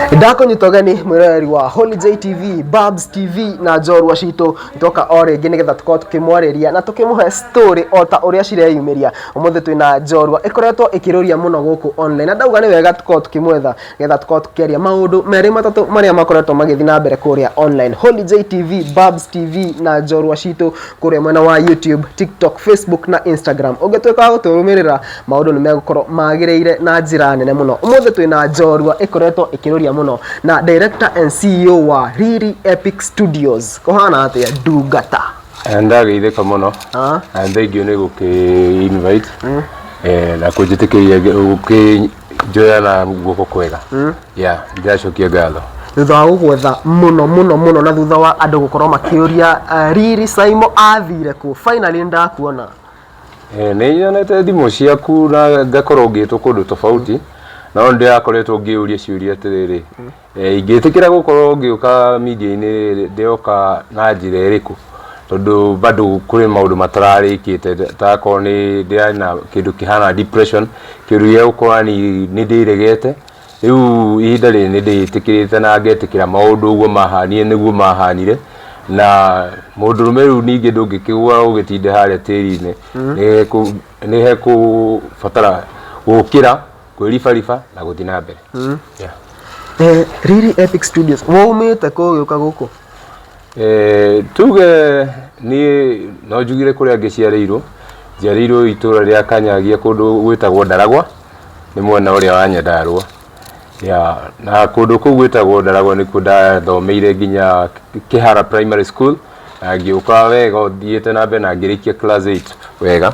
ndakũnyita ũgeni mwĩroreri wa Holy J TV, Babs TV na njorua citũ ndoka o rĩngĩ nĩgetha tũkorwo tũkĩmwarĩria na tũkĩmũhe story o ta ũrĩa cireyumĩria ũmũthĩ twĩna njorua ĩkoretwo ĩkĩrũria mũno gũkũ online na ndauga nĩ wega tũkorwo tũkĩmwetha nĩgetha tũkorwo tũkĩaria maũndũ merĩ matatũ marĩa makoretwo magĩthiĩ na mbere kũrĩa online Holy J TV, Babs TV na njorua citũ kũrĩa mwena wa YouTube, TikTok, Facebook na Instagram ũngĩtuĩka wa gũtũrũmĩrĩra maũndũ nĩ megũkorwo magĩrĩire na njĩra nene mũno ũmũthĩ twĩ na njorua ĩkoretwo ĩkĩrũria mũno na director and ceo wa riri epic studios ũhana atĩa ndungata ndageithĩka mũno Ah. na nĩ thengiũ nĩ gũkĩ invite eh, na kũnjĩtĩkĩria gũkĩnjoya na guoko kwega ya ndĩracokia ngatho thutha wa gũgwetha mũno mũno mũno na thutha wa andũ gũkorwo makĩũria uh, riri saimo athire kũ finally nĩ ndakuona Eh, nĩ nyonete thimũ ciaku na ngakorwo ngĩtwo kũndũ tofauti na no ndĩrakoretwo ngĩũria ciũria atĩrĩrĩ eh, ingĩtĩkĩra gũkorwo ngĩũka media-inĩ rĩrĩ ndĩroka na njĩra ĩrĩkũ tondũ bado kũrĩ maũndũ matararĩkĩte takorwo nĩ ndĩrarĩ na kĩndũ kĩhana depression kĩũndũ gĩa gũkorwo yani nĩ ndĩregete Rĩu ihinda rĩrĩ nĩ ndĩĩtĩkĩrĩte na ngetĩkĩra maũndũ ũguo maahaanire nĩguo maahaanire, na mũndũrũme rĩu ningĩ ndũngĩkĩgũa ũgĩtinde harĩa tĩri-inĩ, nĩ hekũbatara gũũkĩra, kwĩribariba na gũthiĩ na mbere. Riri Epic Studios, waumĩte kũ ũgĩũka gũkũ? Eh, tuge niĩ no njugire kũrĩa ngĩciarĩirwo njiarĩirwo itũra rĩa kanyagia kũndũ gwĩtagwo ndaragwa nĩ mwena ũrĩa wa nyandarũa ya na kũndũ kũu gwĩtagwo ndaragwa nĩkuo ndathomeire nginya kĩhara primary school na ngĩũka wega thiĩte na mbere na ngĩrĩkia class 8 wega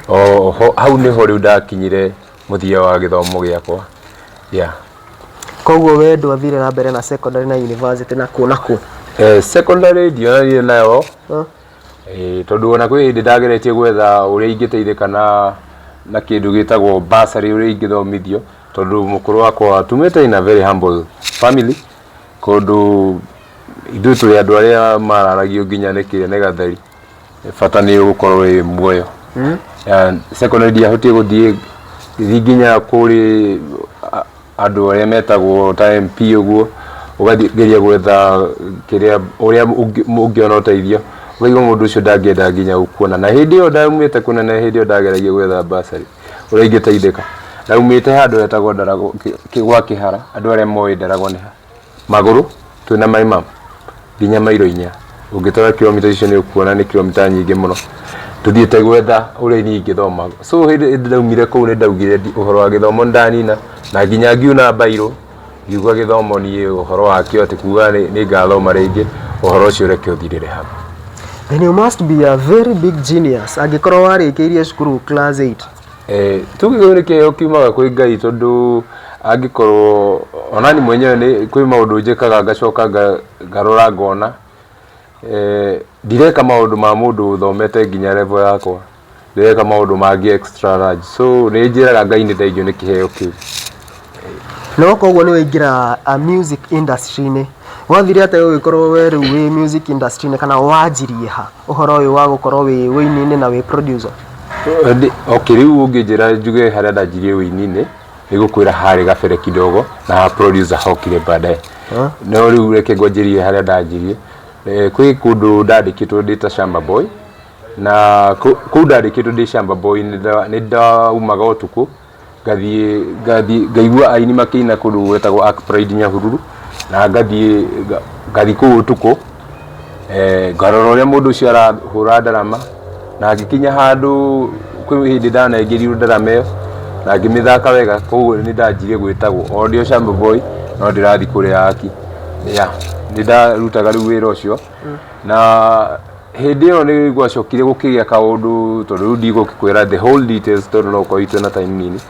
oho hau nĩho rĩu ndakinyire mũthia wa gĩthomo gĩakwa yeah. Koguo we ndwathire na mbere na secondary na university na kũ na kũ? Eh, secondary ndionanire nayo Huh? eh, tondũ ona kwĩ hĩndĩ ndageretie gwetha ũrĩa ingĩteithĩka na na kĩndũ gĩtagwo basarĩ ũrĩa ingĩthomithio tondũ mũkũrũ wakwa tumĩte in a very humble family kũndũ ithuĩ tũrĩ andũ arĩa mararagio nginya nĩ kĩene gatheri bata nĩ gũkorwo wĩ muoyo Ya, secondary ndiahotire gũthiĩ gĩthiĩ nginya kũrĩ a- andũ arĩa metagwo ta MP ũguo ũgathiĩ ngeria gwetha kĩrĩa ũrĩa ũngĩ- ũngĩona ũteithio ũkaigua mũndũ ũcio ndangĩenda nginya gũkuona na hĩndĩ ĩyo ndaumĩte kũnene hĩndĩ ĩyo ndageragia gwetha mbacarĩ ũrĩa ingĩteithĩka ndaumĩte handũ hetagwo Ndarago- kĩ- kĩ- gwa kĩhara andũ arĩa moĩ Ndarago nĩ ha magũrũ twĩna mai ma nginya mairo inya ũngĩtwara kilomita icio nĩ ũkuona nĩ kilomita nyingĩ mũno tũthiĩte gwetha ũrĩa niĩ ingĩthoma so hĩndĩ hĩndĩ ndaumire kũu nĩ ndaugire ndi- ũhoro wa gĩthomo nĩ ndanina na nginya ngiuna mbairũ ngiuga gĩthomo niĩ ũhoro wakĩo atĩ kuga nĩ nĩ ngathoma rĩngĩ ũhoro ũcio reke ũthirĩre hau Then you must be a very big genius angĩkorwo warĩkĩirie cukuru class 8. Tuge kĩu nĩ kĩheo kiumaga kwĩ Ngai tondũ angĩkorwo, onaniĩ mwenyewe nĩ kwĩ maũndũ njĩkaga ngacoka ngarora ngona ndireka maũndũ ma mũndũ ũthomete nginya level yakwa, ndĩreka maũndũ mangĩ extra large. So nĩ njĩraga Ngai nĩ thengiũ nĩ kĩheo kĩu. Na woka ũguo nĩ waingĩra music industry-inĩ, wathire atĩa ũgĩkorwo we rĩu wĩ music industry-inĩ kana wanjirie ha ũhoro ũyũ wa gũkorwo wĩ ũini-inĩ na wĩ producer? Ĩndĩ, okay, rĩu ũngĩnjĩra njuge harĩa ndanjirie ũini-inĩ, nĩ ngũkwĩra harĩ gabere kidogo na producer hokire baadaye. No rĩu reke ngwanjĩrie harĩa ndanjirie. Eh, Kwĩ kũndũ ndandĩkĩtwo ndĩ ta Shamba Boy, na kũ- kũu ndandĩkĩtwo ndĩ Shamba Boy nĩ nda- nĩ ndaumaga ũtukũ ngathiĩ ngathiĩ ngaigua aini makĩina kũndũ gwetagwo Ark Pride Nyahururu na ngathiĩ nga- ngathiĩ kũu ũtukũ eh, ngarora ũrĩa mũndũ ũcio arahũra ndarama na ngĩkinya handũ kwĩ hĩndĩ ndanaingĩrirwo ndarama ĩyo na ngĩmĩthaka wega koguo nĩ ndanjire gwĩtagwo o ndĩ o Shamba Boy no ndĩrathiĩ kũrĩa Ark ya nĩ ndarutaga rĩu wĩra ũcio na hĩndĩ ĩyo nĩ gwacokire gũkĩgĩa kaũndũ tondũ rĩu ndigũkĩkwĩra the whole details tondũ no ũkorwo itwĩ na time nini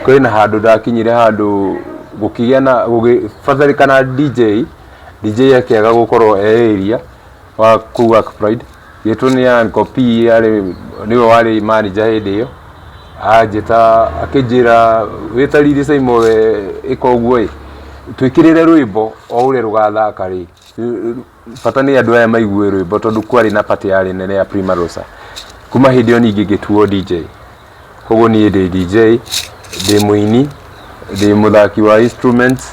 kwĩ na handũ ndakinyire handũ gũkĩgĩa na gũgĩbatarĩkana DJ DJ akĩaga gũkorwo e area wa kũu Ark Pride gĩtwo nĩ Anko P arĩ nĩwe warĩ manager hĩndĩ ĩyo anjĩta akĩnjĩra wĩ ta Lili Saimo we ĩka ũguo ĩ twĩkĩrĩre rwĩmbo o ũrĩa rũgathaka rĩ bata nĩ andũ aya maigue rwĩmbo tondũ kwarĩ na party yarĩ nene ya Prima Rosa kuma hĩndĩ ĩyo ningĩ ngĩtuo DJ koguo niĩ ndĩ DJ ndĩ mũini ndĩ mũthaki wa instruments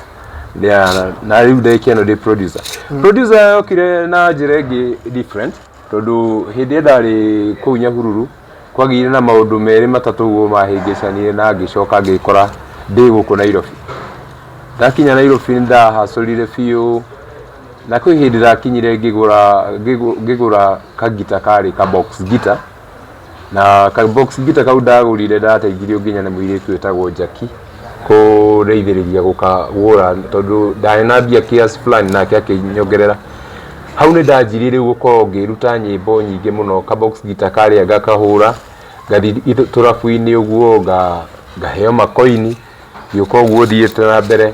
yeah, na rĩu ndĩkia ĩno ndĩ producer producer yokire na njĩra ĩngĩ different tondũ hĩndĩ ĩrĩa ndarĩ kũu Nyahururu, kwagĩire na maũndũ merĩ matatũ ũguo mahĩngĩcanire na ngĩcoka ngĩkora ndĩ gũkũ Nairobi. Ndakinya Nairobi nĩ ndahacũrire biũ, na kwĩ hĩndĩ ndakinyire ngĩgũra ngĩgũra kagita karĩ ka box guitar. na ka box gita kau ndagurire ndateithirio nginya nĩ mũirĩtu wĩtagwo Jackie kũndeithĩrĩria gũkagũra tondũ ndarĩ na mbia kiasi fulani nake akĩnyongerera hau nĩ ndanjirie rĩu gũkorwo ngĩruta nyĩmbo nyingĩ mũno ka box gita karĩa ngakahũra ngathi tũrabu-inĩ ũguo nga- ngaheo makoini ngĩũka ũguo thiĩte na mbere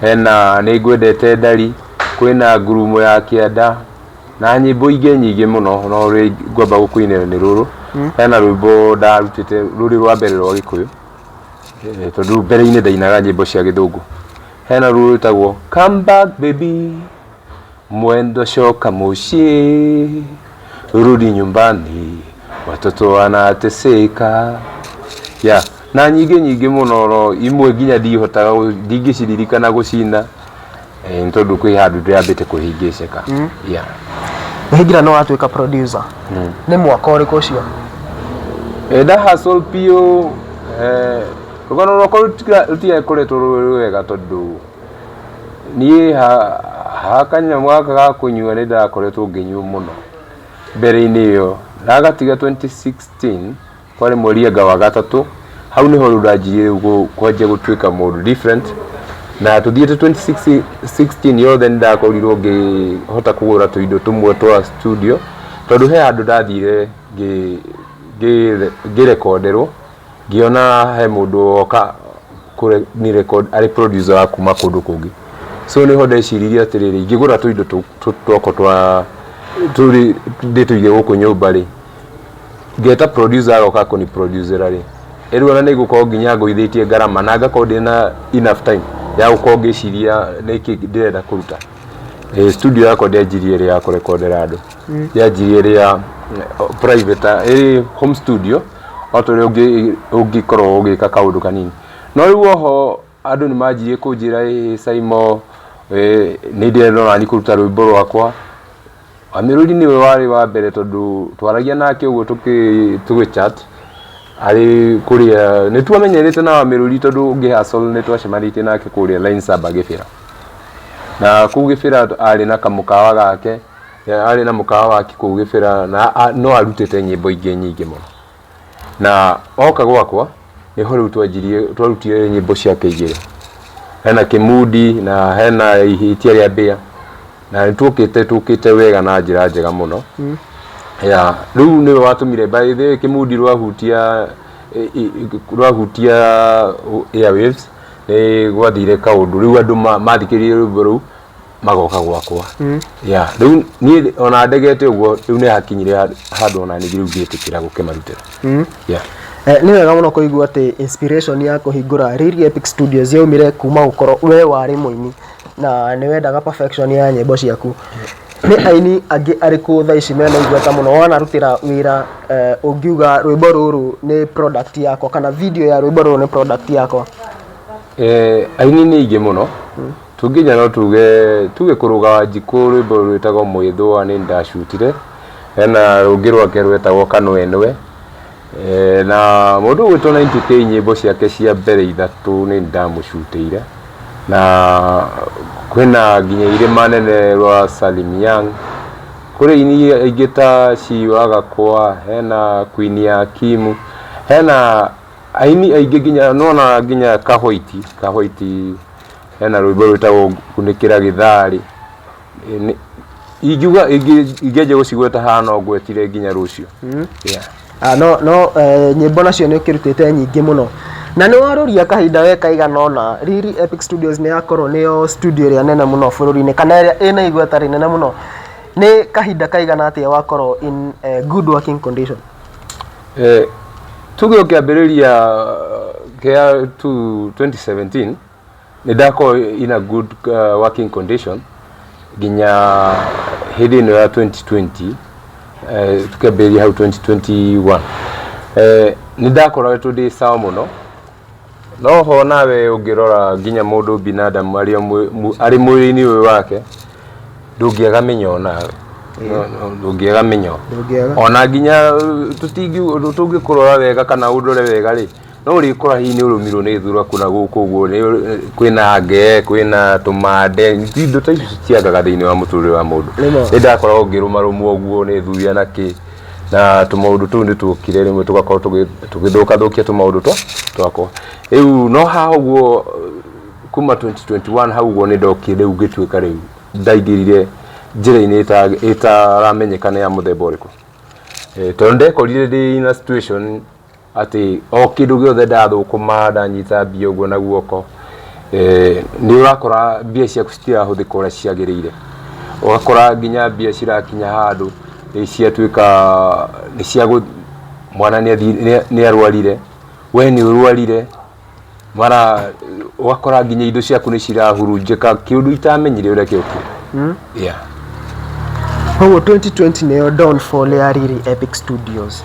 hena nĩ ngwendete ndari, kwĩna ngurumo ya kĩanda na nyĩmbo ingĩ nyingĩ mũno no rĩ- ngwamba gũkũinĩra nĩ rũrũ hena rwĩmbo ndarutĩte rũrĩ rwa mbere rwa gĩkũyũ Eh, tondũ mbere-inĩ ndainaga nyĩmbo cia gĩthũngũ hena rũrũ rwĩtagwo come back baby Mwendo shoka mushi, rudi nyumbani, watoto wanateseka ya na nyingĩ nyingĩ mũno no imwe nginya ndihotaga gũ- ndingĩciririkana gũcina eh, nĩ tondũ kwĩ handũ ndĩrambĩte kũhingĩceka ya Hingira no watuĩka producer. Nĩ mwaka ũrĩkũ ũcio? Eh, nda hustle biũ eh, rũgano rwakwa rũtiga- rũtigakoretwo rwĩ rwega tondũ niĩ ha kanyamũ gaka ga kũnyua nĩ ndakoretwo ngĩnyua mũno mbere-inĩ ĩyo, ndagatiga twenty sixteen kwarĩ mweri anga wa gatatũ, hau nĩho rĩu ndanjirie rĩu kwanjia gũtuĩka mũndũ different, na tũthiĩte twenty sixteen yothe nĩ ndakorirwo ngĩhota kũgũra tũindo tũmwe twa studio, tondũ he handũ ndathire ngĩrekonderwo. ngĩona he mũndũ woka kũre- ni record arĩ producer wa kuma kũndũ kũngĩ so nĩho ndeciririe atĩrĩrĩ ingĩgũra tũindo tũ- tũ- twakwa twa tũrĩ ndĩtũige gũkũ nyũmba rĩ ngeta producer agoka kũni producera rĩ ĩrĩ ona nĩngũkorwo nginya ngũithĩtie ngarama na ngakorwo ndĩ na enough time ya gũkorwo ngĩciria nĩkĩ ndĩrenda kũruta Eh, studio yakwa ndĩanjirie ĩrĩ ya kũrekondera andũ yanjirie ĩrĩ ya eh, private ĩrĩ home studio o ta ũrĩa ũngĩkorwo ũgĩka kaũndũ kanini. No rĩu oho andũ nĩ manjirie kũnjĩra ĩĩ Saimo nĩ ndĩrenda o naniĩ kũruta rwĩmbo rwakwa. Amirũri nĩwe warĩ wa mbere tondũ twaragia nake ũguo tũgĩ chat arĩ kũrĩa, nĩ twamenyanĩte na Amirũri tondũ ngĩ hustle nĩ twacemanĩtie nake kũrĩa Lainsaba Kĩbĩra. Na kũu Kĩbĩra arĩ na kamũkawa gake. arĩ na mũkawa wake kũu gĩbĩra na a- no arutĩte nyĩmbo ingĩ nyingĩ mũno na oka gwakwa nĩho rĩu twanjirie twarutire nyĩmbo ciake igĩrĩ hena kĩmundi na hena ihĩtia rĩa mbĩa na nĩ tũkĩte tũkĩte wega na njĩra njega mũno ya rĩu nĩwe watũmire by the way, kĩmundi rwahutia i- i- i- rwahutia airwaves nĩ gwathire kaũndũ rĩu andũ ma- mathikĩrĩirie rwĩmbo rũu magoka gwakwa ya rĩu niĩ ona ndegete ũguo rĩu nĩ hakinyire ha- handũ ona ningĩ rĩu ngĩtĩkĩra gũkĩmarutĩra ya Eh, nĩ wega mũno kũigua atĩ inspiration ya kũhingũra Riri Epic Studios yaumire kuma gũkorwo we warĩ mũini na nĩ wendaga perfection ya nyĩmbo ciaku nĩ aini angĩ arĩkũ thaa ici mena igweta mũno wanarutĩra wĩra eh, ũngiuga rwĩmbo rũrũ nĩ product yakwa kana video ya rwĩmbo rũrũ nĩ product yakwa Eh, aini nĩ aingĩ mũno Tũngĩnja no tuge, tuge kũrũga Wanjikũ rwĩmbo rwĩtagwo Mwĩthũa nĩ niĩ ndacutire, hena rũngĩ rwake rwetagwo Kanwenwe, na mũndũ ũgwĩtwo 90K nyĩmbo ciake cia mbere ithatũ nĩ niĩ ndamũcutĩire, na kwĩna nginya irĩma nene rwa Salim Young, kũrĩ aini aingĩ ta Cee wa Gakwa, hena Queen ya Kimu, hena aini aingĩ nginya nĩwona nginya Kahũiti, Kahũiti. hena rwĩmbo rwĩtagwo kunĩkĩra gĩtharĩ Ĩ, nĩ- ingiuga ingĩ- ingĩanjia gũcigweta haha no ngwetire nginya rũciũ Yeah. Ah, no no eh, nyĩmbo nacio nĩ ũkĩrutĩte nyingĩ mũno na nĩ warũria kahinda we kaigana ona riri epic studios nĩ yakorwo nĩyo studio ĩrĩa nene mũno bũrũri-inĩ kana ĩrĩa ĩna igweta rĩnene mũno nĩ kahinda kaigana atĩa wakorwo in eh, good working condition Eh, tuge ũkĩambĩrĩria kĩa tu 2017 nĩ ndakorwo in a good uh, working condition nginya hĩndĩ ĩno ya 2020 eh, tukĩambĩrĩria hau 2021 eh, nĩ ndakoretwo ndĩ sawa mũno No ho nawe ũngĩrora nginya mũndũ binadamu arĩ o mwĩ- mu- arĩ mwĩrĩ-inĩ ũyũ wake ndũngĩaga mĩnyoo nawe No- no, ndũngĩaga mĩnyoo Ndũngĩaga. ona nginya tũtingi- tũngĩkũrora wega kana ũndore wega rĩ no ũrĩkora hihi nĩ ũrũmirwo nĩ thura kũna gũkũ ũguo nĩ ũrĩ- kwĩna ngee kwĩna tũmande Ti- indo ta icio citiagaga thĩinĩ wa mũtũrĩre wa mũndũ Nĩ ma. nĩ ndakoragwo ngĩrũmarũmwo ũguo nĩ thuya na kĩ na tũmaũndũ tũu nĩ tũkire rĩmwe tũgakorwo tũgĩ- tũgĩthũkathũkia tũmaũndũ twa twakwa rĩu no ha ũguo kuma 2021 hau ũguo nĩ ndokire rĩu ngĩtuĩka rĩu ndaingĩrire njĩra-inĩ ĩta- ĩtaramenyeka nĩ ya mũthemba ũrĩkũ Eh, tondũ ndekorire ndĩ in a situation atĩ o kĩndũ gĩothe ndathũkũma ndanyita mbia ũguo na guoko eh, nĩ ũrakora mbia ciaku citirahũthĩka ũrĩa ciagĩrĩire ũgakora nginya mbia cirakinya handũ eh, ciatuĩka nĩ cia gũ- mwana nĩ athi- nĩ- nĩ arwarire we nĩ ũrwarire mara ũgakora nginya indo ciaku nĩ cirahurunjĩka kĩũndũ itamenyire ũrĩa kĩokire hmm? yeah. koguo 2020 nĩyo downfall ya riri epic studios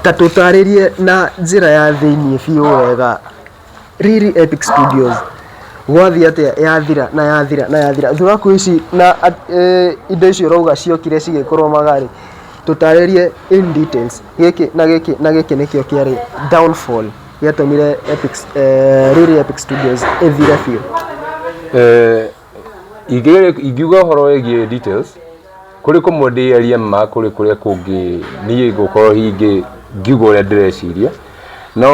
ta tũtarĩrie na njĩra ya thĩiniĩ biũ wega riri epic studios gwathiĩ atĩa yathira na yathira na yathira thuraku ici na e, indo icio ũrauga ciokire cigĩkũrũmaga rĩ tũtarĩrie in details gĩkĩ na gĩkĩ na gĩkĩ nĩkĩo kĩarĩ downfall gĩatũmire Epics, eh, Riri Epic Studios ĩthire biũ Eh, ingĩ- ingiuga ũhoro wĩgiĩ details kũrĩ kũmwe ndĩaria ma kũrĩ kũrĩa kũngĩ niĩ ngũkorwo hingĩ ngiuga ũrĩa ndĩreciria no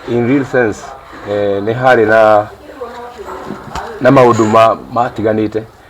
in real sense eh, nĩ harĩ na na maũndũ ma- matiganĩte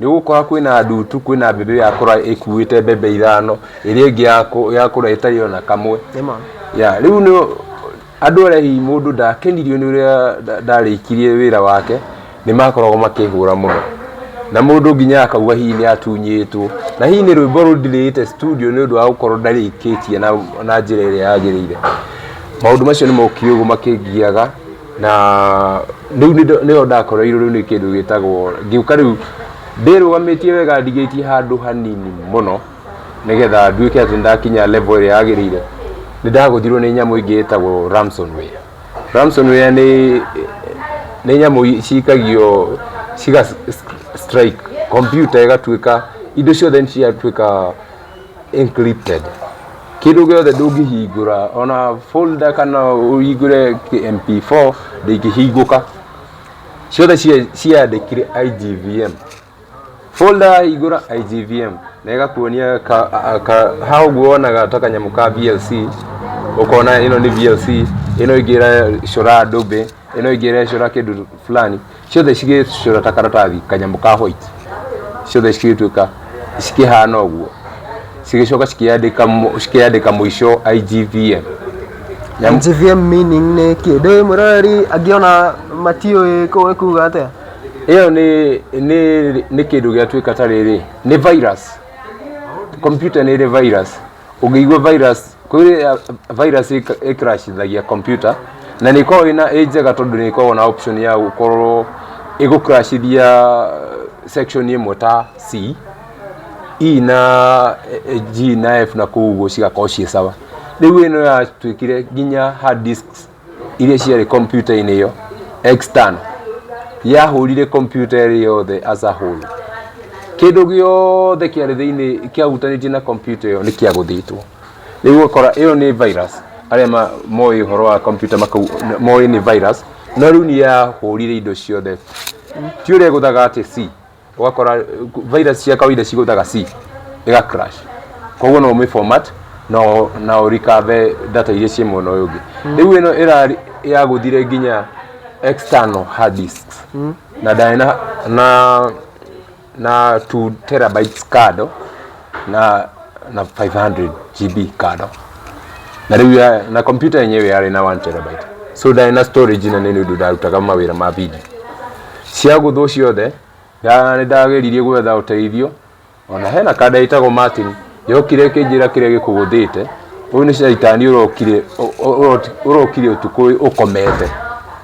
Nĩ ũgũkora kwĩna ndutu, kwĩna mbembe yakũra ĩkuĩte mbembe ithano, ĩrĩa ĩngĩ yakũ- yakũra ĩtarĩ ona kamwe. Nĩma. Ya, rĩu nĩ andũ arĩa hihi mũndũ ndakenirio nĩ ũrĩa nda- ndarĩkirie wĩra wake, nĩ makoragwo makĩhũra mũno. Na mũndũ nginya akauga hihi nĩ atunyĩtwo. Na hihi nĩ rwĩmbo rũndirĩte studio nĩ ũndũ wa gũkorwo ndarĩkĩtie na na njĩra ĩrĩa yagĩrĩire. Maũndũ macio nĩ mokire ũguo makĩngiaga. na rĩu nĩndo- nĩyo ndakoreirwo rĩu nĩ kĩndũ gĩtagwo ngĩũka rĩu ndĩrũgamĩtie wega ndigĩtie handũ hanini mũno nĩgetha nduĩke atĩ ndakinya level ĩrĩa yagĩrĩire nĩ ndagũthirwo nĩ nyamũ ĩngĩ ĩtagwo ransomware ransomware nĩ nĩ nyamũ i- cikagio ciga s- strike computer ĩgatuĩka indo ciothe nĩ ciatuĩka encrypted kĩndũ gĩothe ndũngĩhingũra ona folder kana ũhingũre kĩ- mp4 ndĩngĩhingũka ciothe cia- ciandĩkire igvm folder yahingũra igvm na ĩgakuonia ka- a- ka- ha ũguo wonaga ta kanyamũ ka vlc ũkona ĩno nĩ vlc ĩno ĩngĩ ĩrecora ndũmbĩ ĩno ĩngĩ ĩrecora kĩndũ fulani ciothe cigĩcura ta karatathi kanyamũ ka white ciothe cigĩtuĩka cikĩhana ũguo cigĩcoka cikĩyandĩka mũ- cikĩyandĩka mũico IGVM Nyamũ- GVM meaning nĩ kĩ ndĩ mũrori angĩona matiũĩ kũĩ kuga atĩa ĩyo nĩ nĩ nĩ kĩndũ gĩatuĩka ta rĩrĩ nĩ virus computer nĩ ĩrĩ virus ũngĩigua virus kũrĩ ya- virus ĩka- ĩcrashithagia computer na nĩ ĩkoragwo ĩna ĩ njega tondũ nĩ ĩkoragwo na option ya gũkorwo ĩgũcrashithia section ĩmwe ta C E na eh, G na F na kũu ũguo cigakorwo ciĩ sawa rĩu ĩno yatuĩkire nginya hard discs iria ciarĩ kompiuta-inĩ ĩyo external yahũrire kompiuta ĩrĩ yothe as a whole kĩndũ gĩothe kĩarĩ thĩinĩ kĩahutanĩtie na kompiuta ĩyo nĩ kĩagũthĩtwo rĩu ũgakora ĩyo nĩ virus arĩa ma- moĩ ũhoro wa kompiuta makau- moĩ nĩ virus no rĩu nĩ yahũrire indo ciothe ti ũrĩa gũthaga atĩ si ũgakora virus cia kawaida cigũtaga C ĩga crash koguo no ũmĩ format na ũ- na ũrikave data iria ciĩ mwena ũyũ ũngĩ rĩu ĩno ĩra yagũthire nginya external hard disks na ndarĩ na na na 2 terabytes kado na na 500 GB kado na rĩu ya- na kompyuta yenyewe yarĩ na 1 terabyte so ndarĩ na storage na nĩ nĩ ũndũ ndarutaga mawĩra ma video cia gũthũ ciothe nda- nĩ ndageririe gwetha ũteithio ona hena kanda ĩtagwo Martin yokire ĩkĩnjĩra kĩrĩa gĩkũgũthĩte ũyũ nĩ caitani ũrokire ũ- ũ- ũrokire ũtukũ ũyũ ũkomete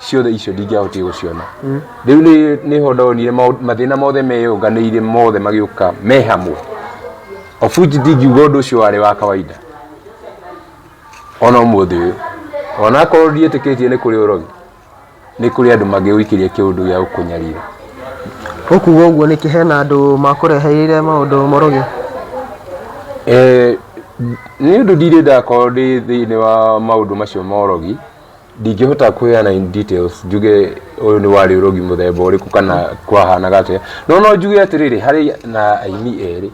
ciothe icio ndingĩahotire gũciona rĩu nĩ- nĩho ndonire maũ- mathĩna mothe meyũnganĩire mothe magĩũka me hamwe of which ndingiuga ũndũ ũcio warĩ wa kawaida ona ũmũthĩ ũyũ ona akorwo ndiĩtĩkĩtie nĩ kũrĩ ũrogi nĩ kũrĩ andũ mangĩũikĩria kĩũndũ gĩa gũkũnyarira ũkuga ũguo nĩkĩ hena andũ makũreheire maũndũ moroge Eh, nĩ ũndũ ndirĩ ndakorwo ndĩ thĩinĩ wa maũndũ macio ma ũrogi ndingĩhota kwĩana in details njuge ũyũ nĩ warĩ ũrogi mũthemba ũrĩkũ kana kwahanaga atĩa no no njuge atĩrĩrĩ harĩ na aini erĩ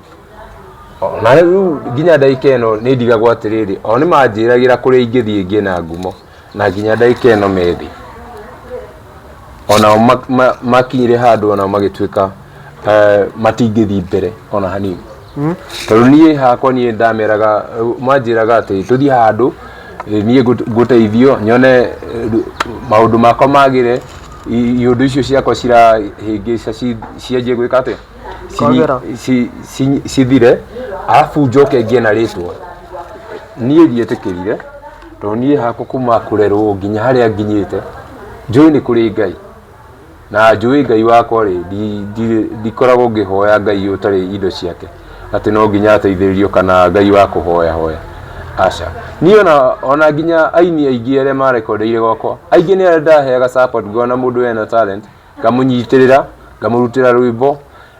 O, na rĩu nginya ndagika ĩno nĩ ndigagwo atĩrĩrĩ o nĩ manjĩragĩra kũrĩa ingĩthiĩ ngĩe na ngumo na nginya ndagika ĩno methĩ onao ma- ma- makinyire handũ onao magĩtuĩka eh, matingĩthiĩ mbere ona hanini hmm? tondũ niĩ hakwa niĩ ndameraga mwanjĩraga atĩ tũthiĩ handũ eh, niĩ ngũteithio nyone eh, maũndũ makwa magĩre iũndũ icio ciakwa cirahĩngĩca cianjie gwĩka atĩa cithire arabu njoke ngie na rĩtwa niĩ ndietĩkĩrire tondũ niĩ hakwa kuma kũrerwo nginya harĩa nginyĩte njũĩ nĩ kũrĩ ngai na njũĩ ngai wakwa rĩ ndi- ndi- ndikoragwo ngĩhoya ngai ũtarĩ indo ciake atĩ no nginya ateithĩrĩrio kana ngai wa kũhoya hoya aca niĩ ona, ona nginya aini aingĩ arĩa marekondeire gwakwa aingĩ nĩ arĩa ndaheaga support ngona mũndũ ena talent ngamũnyitĩrĩra ngamũrutĩra rwĩmbo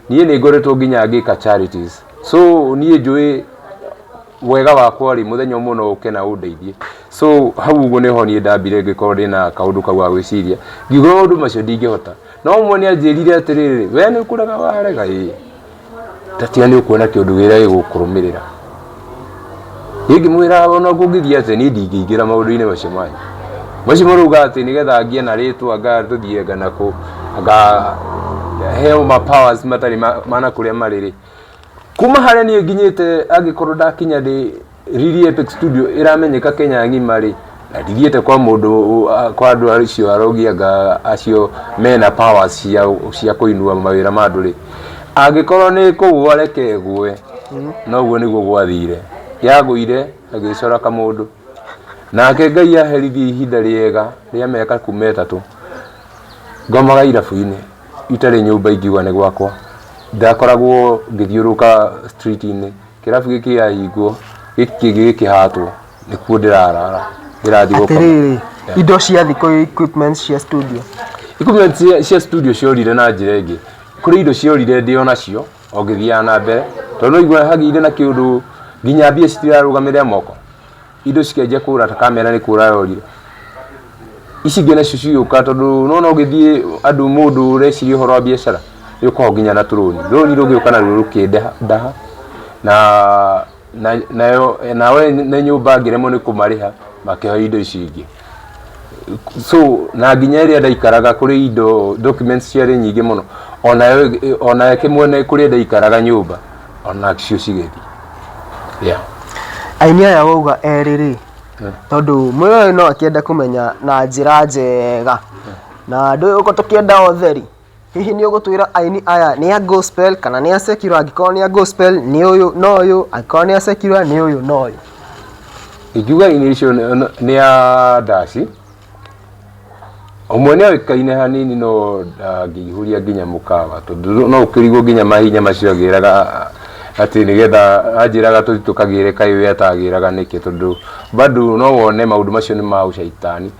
niĩ nĩ ngoretwo nginya ngĩka charities so niĩ njũĩ wega wakwa rĩ mũthenya ũmwe no ũke na ũndeithie so hau ũguo nĩho niĩ ndambire ngĩkorwo ndĩna kaũndũ kau ga gwĩciria ngiuga maũndũ macio ndingĩhota no ũmwe nĩ anjĩrire atĩrĩrĩ we nĩ ũkũrega warega ĩ tatiga nĩ ũkuona kĩũndũ wĩra gĩgũkũrũmĩrĩra niĩ ngĩmwĩra ona kũngĩthiĩ atĩ niĩ ndingĩingĩra maũndũ-inĩ macio manyu macio marauga atĩ nĩgetha ngĩe na rĩtwa anga tũthiĩ anga nakũ anga heo ma powers matarĩ ma na kũrĩa marĩ rĩ Kuma harĩa niĩ nginyĩte angĩkorwo ndakinya ndĩ Riri Epic Studio ĩramenyeka Kenya ng'ima rĩ, na ndithiĩte kwa mũndũ kwa andũ acio arogi anga acio mena powers cia cia kũinua mawĩra ma andũ rĩ, angĩkorwo nĩ kũgwa reke ngwe, na ũguo nĩguo gwathire. Yagũire ĩgĩcora kamũndũ. Nake Ngai aherithie ihinda rĩega rĩa mĩaka kuma ĩtatũ, Ngomaga irabu-inĩ itarĩ nyũmba ingiuga nĩ gwakwa. Ndakoragwo ngĩthiũrũrũka street inĩ, kĩrabu gĩkĩ gĩahingwo, gĩkĩ kĩngĩ gĩkĩhatwo, nĩkuo ndĩrarara ngĩrathiĩ gũkoma. Atĩrĩrĩ, indo cia thikũ iria equipments cia studio? Equipments cia studio ciorire na njĩra ĩngĩ. Kũrĩ indo ciorire ndĩ o nacio o ngĩthiaga na mbere, tondũ nĩwaiguaga hagĩire na kĩũndũ nginya mbia citirarũgamĩrĩra moko. indo cikenjia kũra ta kamera nĩ kũra yorire ici ingĩ nacio cigĩũka tondũ nona ũgĩthiĩ andũ mũndũ ũreciria ũhoro wa biacara nĩ ũkoragwo nginya na tũrũni rũni rũgĩũka naruo rũkĩndaha na na nayo nawe nĩ nyũmba ngĩremwo nĩ kũmarĩha makĩhoya indo ici ingĩ so na nginya ĩrĩa ndaikaraga kũrĩ indo documents ciarĩ nyingĩ mũno onayo onayo kĩmwene kũrĩa ndaikaraga nyũmba onacio cigĩthiĩ yeah. aini aya wauga erĩ rĩ tondũ mwĩyoĩ no akĩenda kũmenya na njĩra njega na andũ ũko tũkĩenda othe rĩ Hihi nĩ ũgũtwĩra aini aya nĩ a gospel kana nĩ a secular angĩkorwo nĩ a gospel nĩ ũyũ na ũyũ angĩkorwo nĩ a secular nĩ ũyũ na ũyũ. Ingiuga aini icio nĩ a ndaci, ũmwe nĩ oĩkaine hanini no ndangĩihũria nginya mũkawa tondũ no ũkĩrigwo nginya mahinya macio agĩraga atĩ nĩgetha anjĩraga tũthiĩ tũkagĩre kaĩ we atagĩraga nĩkĩ tondũ bado no wone maũndũ macio nĩ ma ũcaitani.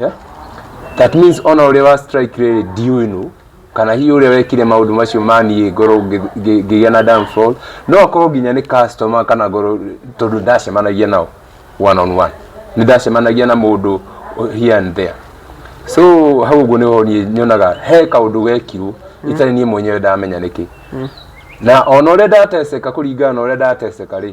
yeah? that means ona ũrĩa wa strike rĩrĩ ndiũĩ nũ kana hihi ũrĩa wekire maũndũ macio maniĩ ngorwo ngĩ- ngĩ- ngĩgĩa na downfall no akorwo nginya nĩ customer kana ngorwo tondũ ndacemanagia nao one on one nĩ ndacemanagia na mũndũ here and there so hau ũguo nĩho niĩ nyonaga he kaũndũ gekirwo itarĩ niĩ mwenyewe ndamenya nĩkĩ na ona ũrĩa ndateceka kũringana na ũrĩa ndateceka rĩ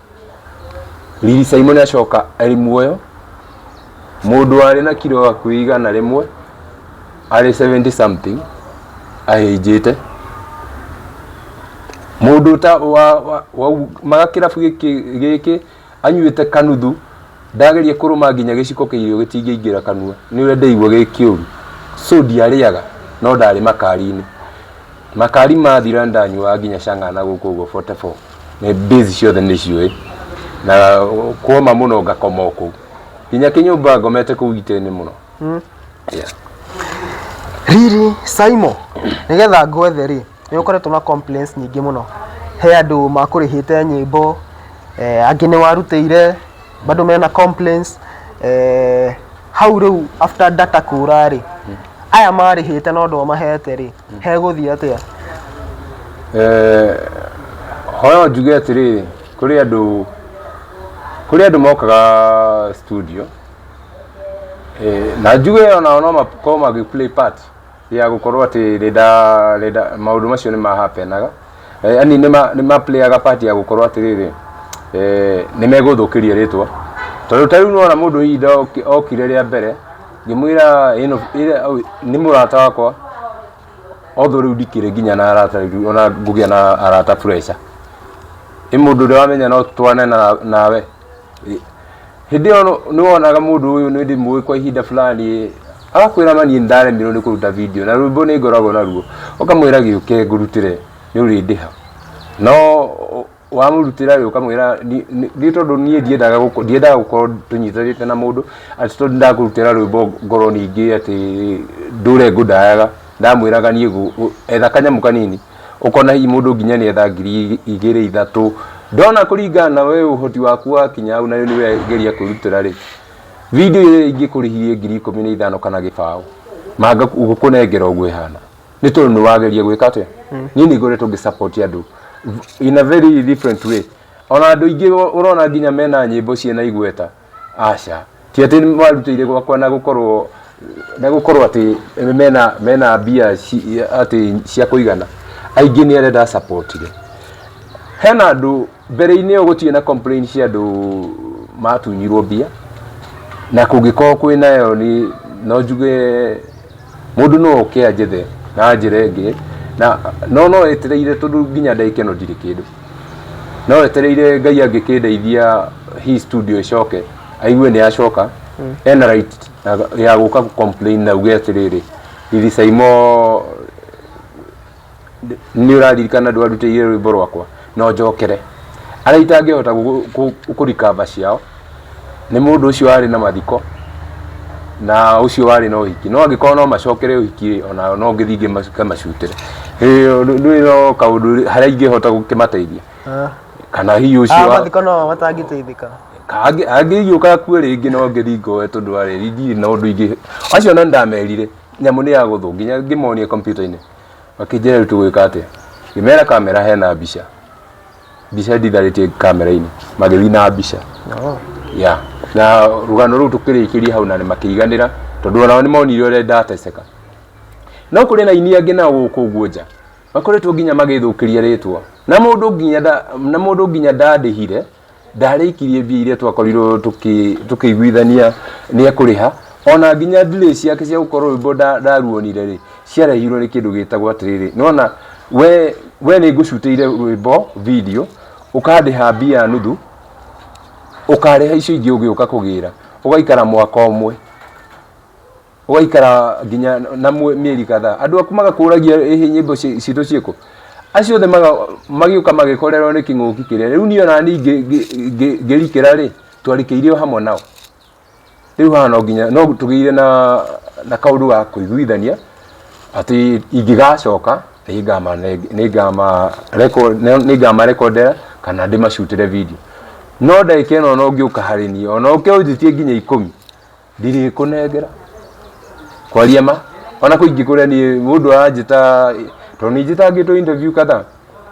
Riri Simon acoka arĩ muoyo, mũndũ warĩ na kiro hakuhĩ igana rĩmwe, arĩ 70 something, ahĩnjĩte. Mũndũ ta wa, wa, wa maga kĩrabu gĩkĩ gĩkĩ anyuĩte kanuthu ndageria kũrũma nginya gĩciko kĩa irio gĩtingĩingĩra kanua nĩ ũrĩa ndaigua gĩ kĩũru so ndiarĩaga no ndarĩ makari-inĩ makari mathira ndanyuaga nginya cang'ana gũkũ ũguo 44 nĩ base ciothe nĩ ciũĩ na kuoma mũno ngakoma o kũu nginya kĩnyũmba ngomete kũu itĩinĩ mũno Yeah. riri saimo nĩgetha ngwethe rĩ nĩ ũkoretwo na complaints nyingĩ mũno he andũ makũrĩhĩte nyĩmbo eh, angĩ nĩ warutĩire bado mena complaints eh, hau rĩu after data kũra rĩ aya marĩhĩte na ũndũ wamahete rĩ hegũthiĩ atĩa Eh, hoyo njuge atĩrĩrĩ kũrĩ andũ kũrĩ andũ mokaga studio eh, na njuge onao no makorwo magĩ play part ya gũkorwo atĩ renda renda maũndũ macio nĩ mahapenaga yani nĩ ma- nĩ ma playaga part ya gũkorwo atĩrĩrĩ eh, nĩ megũthũkĩria rĩtwa tondũ ta rĩu nĩwona mũndũ ihinda oki- okire rĩa mbere ngĩmwĩra ĩno ĩrĩa- au- nĩ mũrata wakwa although rĩu ndikĩrĩ nginya na arata rĩu ona ngũgĩa na arata pressure ĩ mũndũ ũrĩa wamenya no twane na- nawe Ĩ, hĩndĩ ĩyo nũ- nĩwonaga mũndũ ũyũ nĩndĩ mũĩ kwa ihinda fulani agakwĩra mani ndaremirwo nĩ kũruta video na rwĩmbo nĩ ngoragwo naruo ũkamwĩra gĩũke ngũrutĩre nĩ ũrĩndĩha no ũ- wamũrutĩra rĩ ũkamwĩra "Ni- ni- nĩ tondũ niĩ ndiendaga gũko- ndiendaga gũkorwo tũnyitanĩte na mũndũ atĩ tondũ ndakũrutĩra rwĩmbo ngorwo ningĩ atĩ ndũre ngũndayaga ndamwĩraga niĩ gũ- gũ- etha kanyamũ kanini ũkona hihi mũndũ nginya nĩ etha ngiri igĩrĩ ithatũ ndona kũringana na we ũhoti waku wakinya hau na nĩ wegeria kwĩrutĩra rĩ video ĩrĩa ingĩkũrĩhirie ngiri ikũmi na ithano kana gĩbaũ manga gũkũnengera ũguo ĩhana nĩ tondũ nĩ wageria gwĩka atĩa niĩ nĩ ngoretwo ngĩ support andũ in a very different way ona andå ingä å rona nginya mena nyä mbo ciena igweta aca ti atĩ marutĩire gwakwa na gũkorwo na gũkorwo atĩ mena mena mbia ci- atĩ cia kũigana aingĩ nĩ arĩa ndasapotire hena andũ mbere-inĩ ĩyo gũtirĩ na complain cia andũ matunyirwo mbia na kũngĩkorwo kwĩ nayo nĩ no njuge Mũndũ no oke anjethe na njĩra ĩngĩ, na no no etereire tondũ nginya ndagĩka ĩno ndirĩ kĩndũ. No etereire Ngai angĩkĩndeithia hii studio ĩcoke, aigue nĩ yacoka, ena right ya gũka gũ complain na auge atĩrĩrĩ, Riry Saimo nĩ ũraririkana ndwarutĩire rwĩmbo rwakwa no njokere arĩa itangĩhota kũrikamba ciao nĩ mũndũ ũcio warĩ na mathiko na ũcio warĩ na ũhiki no angĩkorwo no macokere ũhiki ona no ngĩthiĩ ngĩkamacutĩre nĩ no kaũndũ harĩa ingĩhota gũkĩmateithia Ah. kana hihi Ah, ũcio wa- mathiko no matangĩteithĩka angĩgiũka kuo rĩngĩ no ngĩthiĩ ngoe tondũ arĩ ndirĩ na ũndũ ingĩ acio na ndamerire nyamũ nĩ ya gũthũ nginya ngĩmonia kompiuta-inĩ makĩnjĩra rĩu tũgwĩka atĩa ngĩmera kamera hena mbica mbica nditharĩtie kamera-inĩ magĩthiĩ na mbica ya na rũgano rũu tũkĩrĩkĩria hau na nĩ makĩiganĩra tondũ onao nĩ monire ũrĩa ndateceka no kũrĩ na ini angĩ nao gũkũ ũguo nja makoretwo nginya magĩthũkĩria rĩtwa na mũndũ nginya nda- na mũndũ nginya ndandĩhire ndarĩkirie mbia iria twakorirwo tũkĩ- tũkĩiguithania nĩ ekũrĩha ona nginya delay ciake cia gũkorwo rwĩmbo nda- ndaruonire rĩ ciarehirwo nĩ kĩndũ gĩtagwo atĩrĩrĩ nona we we nĩ ngũcutĩire rwĩmbo video ũkandĩha mbia nuthu ũkarĩha icio ingĩ ũgĩũka kũgĩra ũgaikara mwaka ũmwe ũgaikara nginya na mwe- mĩeri kadhaa andũ aku magakũragia ĩhĩ nyĩmbo ci- citũ ciĩkũ acio othe maga- magĩũka magĩkorerwo nĩ kĩng'ũki kĩrĩa rĩu niĩ ona niĩ ngĩ- ngĩ- ngĩ- ngĩrikĩra rĩ twarikĩirio hamwe nao rĩu haha no nginya no tũgĩire na na kaũndũ ga kũiguithania atĩ ingĩgacoka nĩngamarekondera kana ndĩmacutĩre video no ndagĩka ĩno ona ũngĩũka harĩ niĩ ona ũkĩũnjĩtie nginya ikũmi ndirĩkũnengera kwaria ma ona kũingĩ kũrĩa niĩ mũndũ aranjĩta tondũ nĩ njĩtangĩtwo interview kadhaa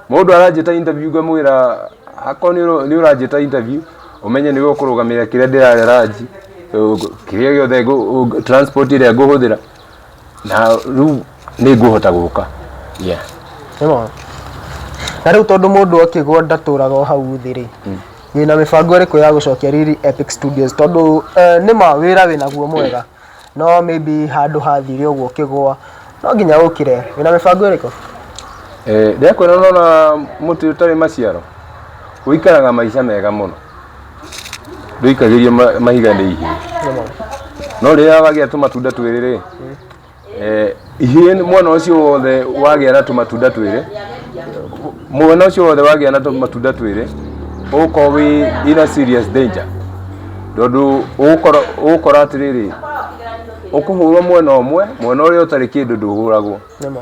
mũndũ aranjĩta interview ngamwĩra akoo nĩ ũranjĩta interview ũmenye nĩwe ũkũrũgamĩrĩra kĩrĩa ndĩrarĩa ranji ũ- kĩrĩa gĩothe ngũ- ũ- transport ĩrĩa ngũhũthĩra na rĩu nĩ ngũhota gũka yeah. Nĩwona? na rĩu tondũ mũndũ akĩgwa ndatũraga o hau thĩ rĩ wĩna mĩbango ĩrĩkũ ya gũcokia riri epic studios tondũ eh, nĩ ma wĩra wĩnaguo mwega no maybe handũ hathire ũguo ũkĩgwa no nginya ũkire wĩna mĩbango ĩrĩkũ Eh, ndĩrakwĩra nona mũtĩ ũtarĩ maciaro ũikaraga maica mega mũno ndũikagĩrie ma- mahiga nĩ ihĩĩ no rĩrĩa wagĩa tũmatunda twĩrĩ rĩ eh, ihĩĩ nĩ- mwana ũcio wothe wagĩa na tũmatunda twĩrĩ mwana ũcio wothe wagĩa na tũmatunda twĩrĩ ũgũkorwo wĩ ina serious danger tondũ ũgũkora ũgũkora atĩrĩrĩ ũkũhũrwo mwena ũmwe mwena ũrĩa ũtarĩ kĩndũ ndũhũragwo Nĩ ma.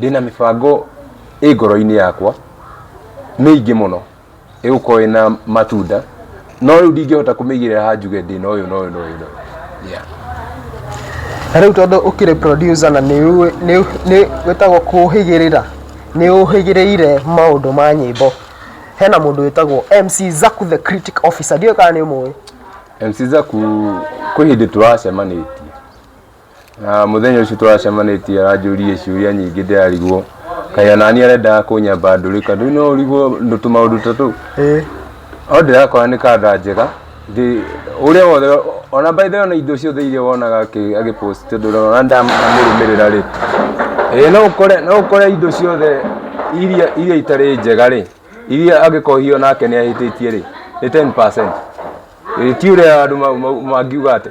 ndĩna mĩbango ĩ ngoro-inĩ yakwa mĩingĩ mũno ĩgũkorwo ĩna matunda no rĩu ndingĩhota kũmĩigĩrĩra ha njuge ndĩna ũyũ na ũyũ na ũyũ na ũyũ Yeah. na rĩu tondũ ũkĩrĩ producer na nĩ ũĩ- nĩ- nĩ wĩtagwo kũhĩgĩrĩra nĩ ũhĩgĩrĩire maũndũ ma nyĩmbo hena mũndũ wĩtagwo mc zaku the critic officer ndiũĩ kana nĩ ũmũĩ MC Zaku kwĩ hĩndĩ tũracemanĩtie Na muthenya ucio twacemanĩtie aranjũririe ciũria nyingĩ ndĩrarigwo kaĩ onani arendaga kũnyamba ndũrĩka ndũĩ no ũrigwo ndũ- tũmaũndũ ta tũu Eh, o ndĩrakora nĩ kanda njega Ndĩ- ũrĩa wothe ona by the way, ona indo ciothe iria wonaga akĩ- agĩpost tondũ ona ndamũrũmĩrĩra rĩ ĩĩ no ũkore no ũkore indo ciothe iria iria itarĩ njega rĩ iria angĩkorwo hihi onake nĩ ahĩtĩtie rĩ nĩ 10% Ĩĩ, ti ũrĩa andũ mau- mau- mangiuga atĩ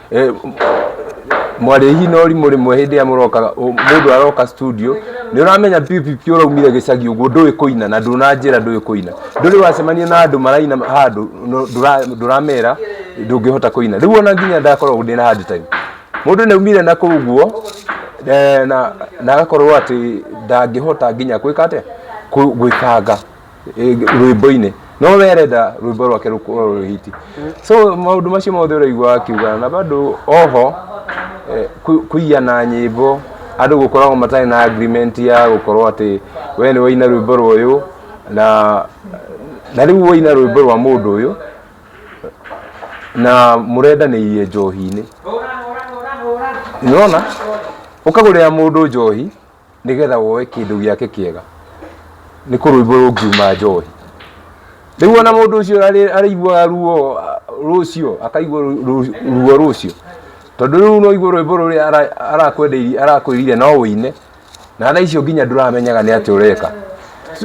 Eh, mwarĩhi no rimũ rĩmwe hĩndĩ ĩrĩa mũroka ũ- mũndũ aroka studio nĩ ũramenya pipipi ũraumire gĩcagi ũguo ndũĩ kũina na ndũnanjĩra ndũĩ kũina ndũrĩ wacemania na andũ maraina handũ no- ndũra- ndũramera ndũngĩhota kũina rĩu ona nginya ndakoragwo ndĩ na hard time mũndũ nĩ aumire na kũu guo eh, na na agakorwo atĩ ndangĩhota nginya gwĩka atĩa Kũ- gwĩkanga eh, rwĩmbo-inĩ no werenda rwĩmbo rwake rũkorwo rwĩ hiti so maũndũ macio mothe ũraigua akiuga na bado oho eh, kũ- kũiya na nyĩmbo andũ gũkoragwo matarĩ na agreement ya gũkorwo atĩ we nĩ waina rwĩmbo rwa ũyũ na na rĩu waina rwĩmbo rwa mũndũ ũyũ na mũrendanĩirie njohi-inĩ nĩwona ũkagũrĩra mũndũ njohi nĩgetha woe kĩndũ gĩake kĩega nĩ kũrũimbo rũngiuma njohi rĩu ona mũndũ ũcio arĩ- arĩiguaga ruo ah, rũcio akaigua ru- ru- ruo rũcio tondũ rĩu no igua rwĩmbo rũrĩa ara- arakwendeirie- arakwĩrire no ũine na tha icio nginya ndũramenyaga nĩ atĩ ũreka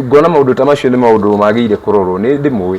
ngona maũndũ ta macio nĩ maũndũ magĩrĩire kũrorwo nĩ ndĩmũĩ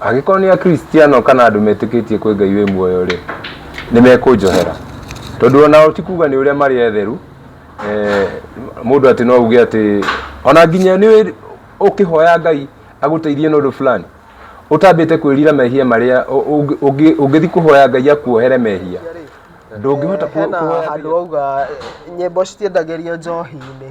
Angĩkorwo nĩ Akristiano kana andũ metĩkĩtie kwĩ Ngai wĩ muoyo-rĩ, nĩmekũnjohera. Tondũ onao ti kuga nĩ ũrĩa marĩ etheru, eh, mũndũ atĩ no uge atĩ ona nginya nĩ ũkĩhoya Ngai agũteithie na ũndũ fulani, ũtambĩte kwĩrira mehia marĩa ũngĩthi kũhoya Ngai akuohere mehia, ndũngĩhota kũhoya Ngai. Hena handũ wauga nyĩmbo citiendagĩrio njohi-inĩ.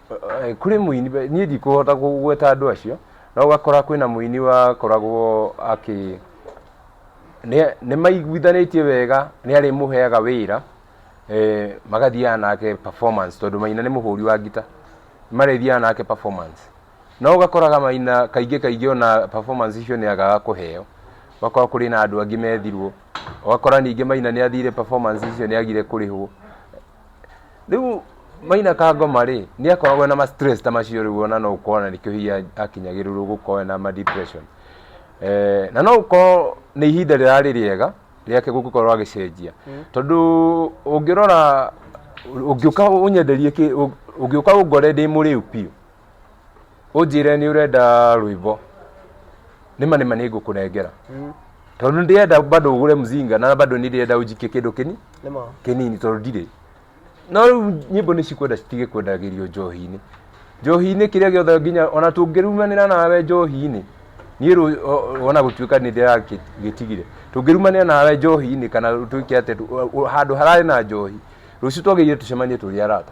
Eh, kũrĩ mũini be- niĩ ndikũhota kũgweta andũ acio no ũgakora kwĩna mũini wakoragwo akĩ nĩ- nĩ maiguithanĩtie wega nĩ arĩmũheaga wĩra eh, magathiaga nake performance tondũ maina nĩ mũhũri wa ngita marĩthiaga nake performance no ũgakoraga maina kaingĩ kaingĩ ona performance icio nĩ agaga kũheo ũgakora kũrĩ na andũ angĩ methirwo ũgakora ningĩ maina nĩ athire performance icio nĩ agire kũrĩhwo rĩu maina kangoma rĩ nĩ akoragwo na ma stress ta macio rĩu ona no ũkorwo na nĩkĩo hihi akinyagĩrĩrwo gũkorwo na ma depression eh, na no ũkorwo nĩ ihinda rĩrarĩ rĩega rĩake gũgĩkorwo agĩcenjia tondũ ũngĩrora ũngĩũka ũnyenderie kĩ- ũ- ũngĩũka ũngore ndĩ mũrĩu biũ ũnjĩre nĩ ũrenda rwĩmbo nĩma nĩma nĩ ngũkũnengera tondũ ndĩrenda bado ũgũre mzinga na bado nĩ ndĩrenda ũnjikie kĩndũ kĩni nĩma kĩnini tondũ ndirĩ no rĩu nyĩmbo nĩ cikwenda citige kwendagĩrio njohi-inĩ njohi-inĩ kĩrĩa gĩothe nginya ona tũngĩrumanĩra nawe njohi-inĩ niĩ rũ- o- o- ona gũtuĩka nĩ ndĩragĩtigire tũngĩrumanĩra nawe njohi-inĩ kana tũike atĩ tũ- o- handũ hararĩ na njohi rũciũ twagĩrĩire tũcemanie tũrĩ arata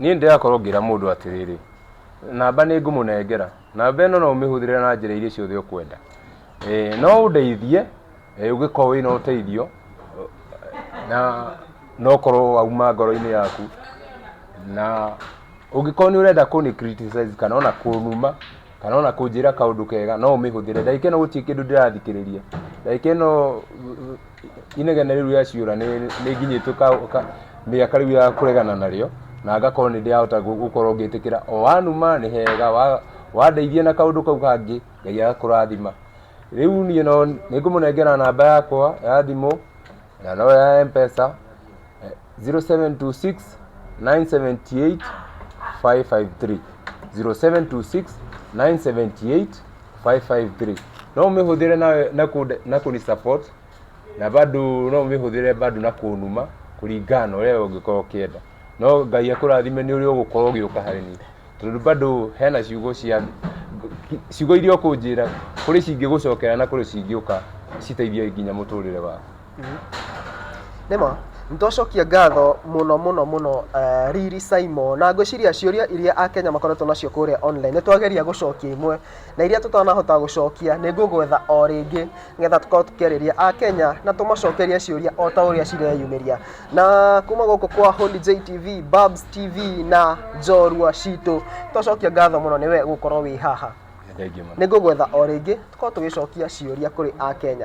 Niĩ nĩndĩrakorwo ngĩra mũndũ atĩrĩrĩ, namba nĩngũmũnengera, namba ĩno no ũmĩhũthĩre na njĩra iria ciothe ũkwenda. Ĩĩ no ũndeithie ũngĩkorwo wĩna ũteithio na na ũkorwo wauma ngoro-inĩ yaku, na ũngĩkorwo nĩũrenda kũnĩ criticize kana ona kũnuma. kana ona kũnjĩra kaũndũ kega no ũmĩhũthĩre ndagĩka ĩno gũtirĩ kĩndũ ndĩrathikĩrĩria ndagĩka ĩno inegene rĩu rĩa ciũra nĩ nĩ nginyĩtwo ka- ka- mĩaka rĩu ya kũregana narĩo na ngakorwo nĩ ndĩrahota gũ- gũkorwo ngĩtĩkĩra o wanuma nĩ hega wa- wandeithia na kaũndũ kau kangĩ ngai agakũrathima rĩu niĩ no nĩ ngũmũnengera namba yakwa ya thimũ na no ya mpesa 0726 978 553 0726 978 553 no umihũthĩre na, na, ku, na kuni support na bado no umihũthĩre bado na kunuma kũringana na ũrĩa ũngĩkorwo ũkĩenda no ngai akũrathime nĩ ũrĩa ũgũkorwo ũgĩũka harĩ niĩ tondũ bado hena ciugo cia ciugo iria ũkũnjĩra kũrĩ cingĩgũcokera na kũrĩ cingĩũka citeithie nginya mũtũrĩre waku Nĩma, nĩ twacokia ngatho mũno mũno mũno uh, Riri Simon na ngwĩciria ciũria iria Akenya makoretwo nacio kũrĩa online nĩ twageria gũcokia imwe na iria tũtanahota gũcokia nĩ ngũgwetha o rĩngĩ nĩgetha tũkorwo tũkĩarĩria Akenya na tũmacokerie ciũria o ta ũrĩa cireyumĩria na kuma gũkũ kwa Holy JTV, Babs TV na Njorua Citũ twacokia ngatho mũno nĩwe gũkorwo wĩ haha nĩ ngũgwetha o rĩngĩ tũkorwo tũgĩcokia ciũria kũrĩ Akenya.